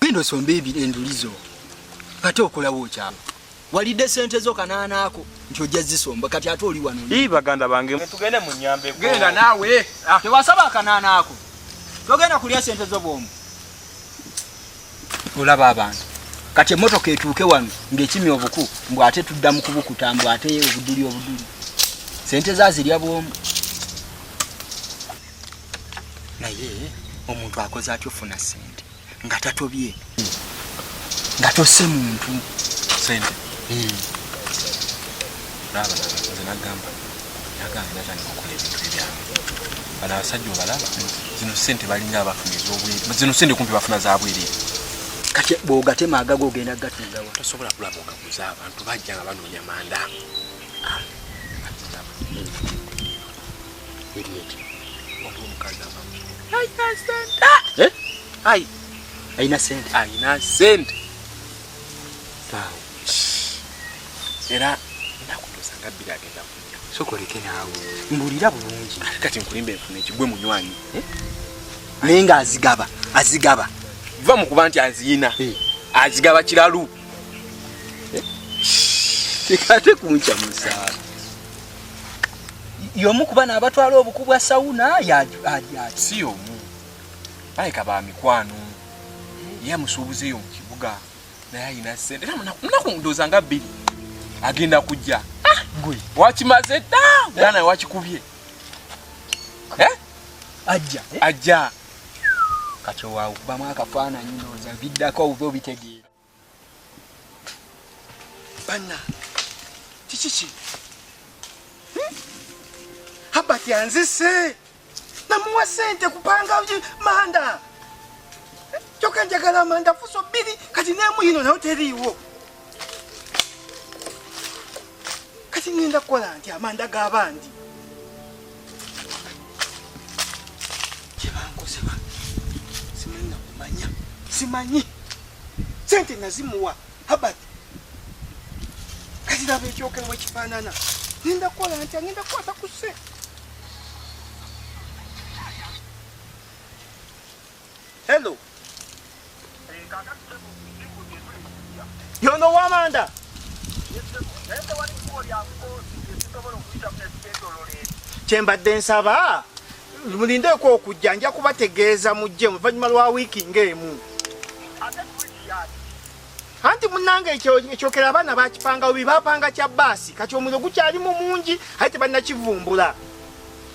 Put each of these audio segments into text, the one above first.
Genda osombe enduli zo kati okolawo okyalo walidde sente zo kanaana ako nti ojja zisomba kati ate oli wano ii baganda bange tugende mu nyambe genda naawe ah. tewasaba akanaana ako togenda kulya sente zo bwomu olaba abantu kati emotoka etuuke wano ngekimi obuku mbu ate tudda mu kubukuta mbu ate obuduli obuduli sente zazirya bwomu naye omuntu akoze atya ofuna sente nga tatobye nga tose muntu sente hmm. nze nagamba nagamba natandika okola ebintu ebyange bano abasajja obalaba zino sente balinga abafuna ezobwere zino sente kumpi bafuna zabwere kati bwogatema agaga ogenda gatundawa tosobola kulaba ogaguza abantu bajja nga banoonya manda ah. ayina sente ayina sente era nakutuusa nga bbiri agenda kunya sokoleke naawe mbulira bulungi ate kati nkulimba enfuna ekigwe munywanyi eh? naye nga azigaba azigaba va mu kuba nti aziyina eh. azigaba kiralu eh? tekate kuncamusaala yomu kuba nabatwala obuku bwa sauna si yomu baleka ba mikwano ye amusuubuza eyo mu kibuga naye ayina sente era munaku ndooza nga bbiri agenda kujja ah, gwe wakimaze dda era naye wakikubye eh? ajja eh? ajja kati owaawo kubamu akafaananyi ndooza biddako oba obitegeera banna kiki ki hmm? habert anzise namuwa sente kupanga manda kyoka njagala manda fuso bbiri kati nemuyino nayo teriiwo kati ngenda kukola nti amanda g'abandi kyebankoze ba simanyi nakumanya simanyi sente nazimuwa habat kaziraba ekyokerewa ekifaanana ninda kukola nti agenda kukwata ku sente Hello. Yono wamanda. Kyembadde nsaba mulindeeko okujja nja kubategeeza mujje oluvannyuma lwa wiiki ng'emu anti munange ekyokera abaana bakipanga obi bapanga kya baasi kati omuliro gukyalimu mungi aye tebannakivumbula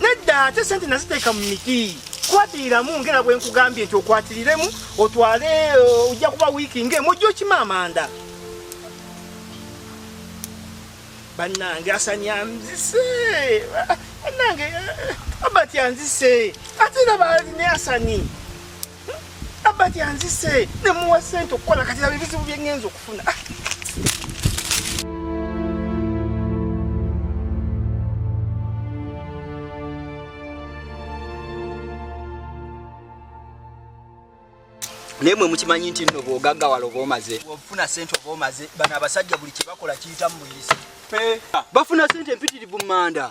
nedda ate sente naziteeka mu miti kwatiiramu ngera bwe nkugambye nti okwatiriremu otwale uh, ojja kuba wiiki ngaemu ojja okima amanda bannange asani anzise bannange uh, abati anzise ate era baalina asani abati anzise ne muwa sente okukola kati laba ebizibu bye ŋŋenza okufuna ah. naye mwe mukimanyi nti nno bwogaggawala oba omaze ofuna sente oba omaze bano abasajja buli kyebakola kiyitamu buyisi bafuna sente empitirivu mumanda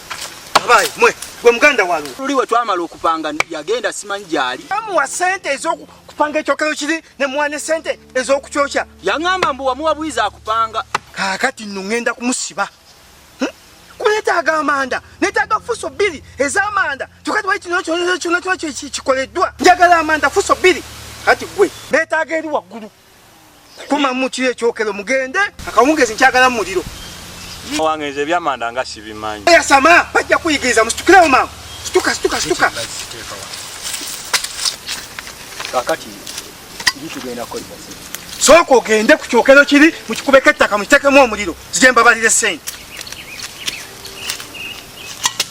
Abaye mwe gwe muganda walo luli we twamala okupanga yagenda simanyi gyali amuwa sente ezokupanga ekyokero kiri ne mwane sente ezokukyokya yaŋamba mbu wamuwa bwiza akupanga kakati no ŋenda kumusiba hm? kunetaaga amanda netaaga fuso bbiri ezamanda kyokati wali kino kyona kyona kyona kikoleddwa njagala amanda fuso bbiri kati gwe netaaga eri waggulu kuma mukiyo ekyokero mugende akawungezi nkyagala mu muliro wange nze ebyamanda nga sibimanyi yasama bajja kuyigiriza musitukirewo maama situka situka situka kakati tugenda kukozesa sooka ogende ku kyokero kiri mu kikubeko ettaka mukitekemu omuliro zije mbabalire sente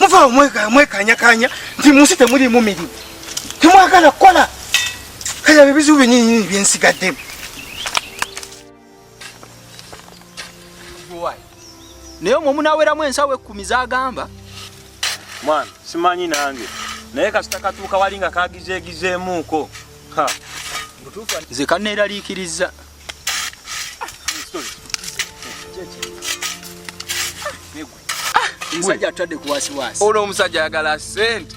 muvaawo mwekanyakanya nti munsi temulimu mirimu temwagala kukola kale ebyo bizibu byenyinyini byensigaddemu naye omwo omunaweramu ensawo ekkumi zagamba mwana simanyi nange naye kasita katuuka wali nga kagizeegizeemuuko nze kaneeraliikirizza ah, ah, olwo omusajja ayagala sente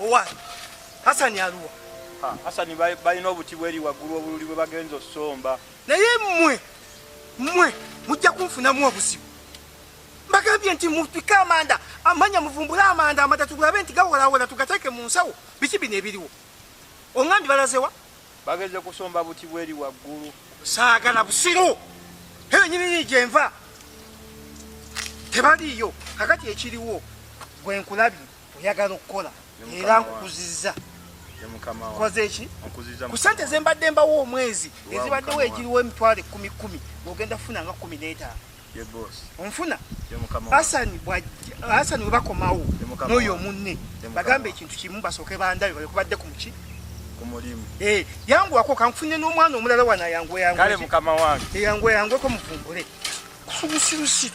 owaani hasani aluwa hasani balina obuti bweri waggulu obululi bwe bagenza osomba naye mmwe mmwe mujja kunfunamu obuzibu mbagambye nti mutwike amanda amanya muvumbule amanda amata tugulabe nti gawolawola tugateeke mu nsawo biki bino ebiriwo oŋambi balazewa bageze kusomba buti bweri waggulu saagala busiru eyo nyinini gyenva tebaliiyo kakati ekiriwo gwe nkulabi oyagala okukola era nkukuzizza kozeeki ku sente zembadde mbawo omwezi ezibaddewo egiriwo emitwalo ekkumi kkumi ogenda kufuna nga kkumi n'etaano onfuna asani asani webakomawo noyo munne bagamba ekintu kimu basooke bandabe balekubadde ku muki eh, yangu wako kanfunye n'omwana omulala wana yangweyangweyangweko eh, muvumbule kubusirusiru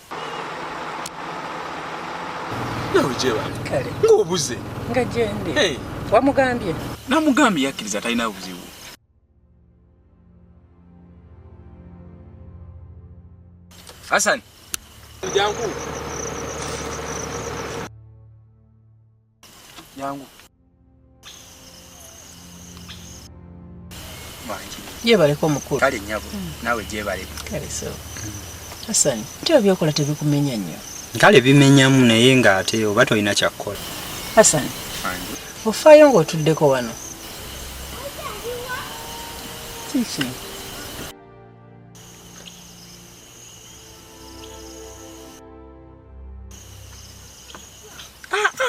nawe gyeba ng'obuze nga gyendi wamugambye namugambye yakkiriza talina buzibu hasani jangu yangu gyebaleko mukulu kale nyabo hmm. nawe gyebaleko kale so asani nti obyokola tebikumenya nnyo kale bimenyamu naye nga ate oba tolina kyakukola asani ofaayo ng'otuddeko wano kiki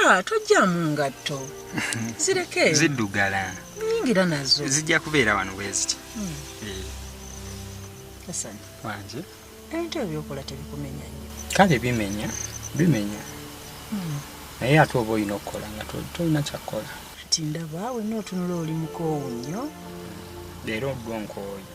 Ah, tojjamu ngatto zireke ziddugala nyingira nazo zijja kubeera wano bweziti hmm. eh. kasani wanje ebintu ebyokola tebikumenya nyo kale bimenya bimenya hmm. naye ate oba olina okukola nga tolina kyakukola ti ndaba wenna otunula oli mukoowu nnyo leero gwonkooyi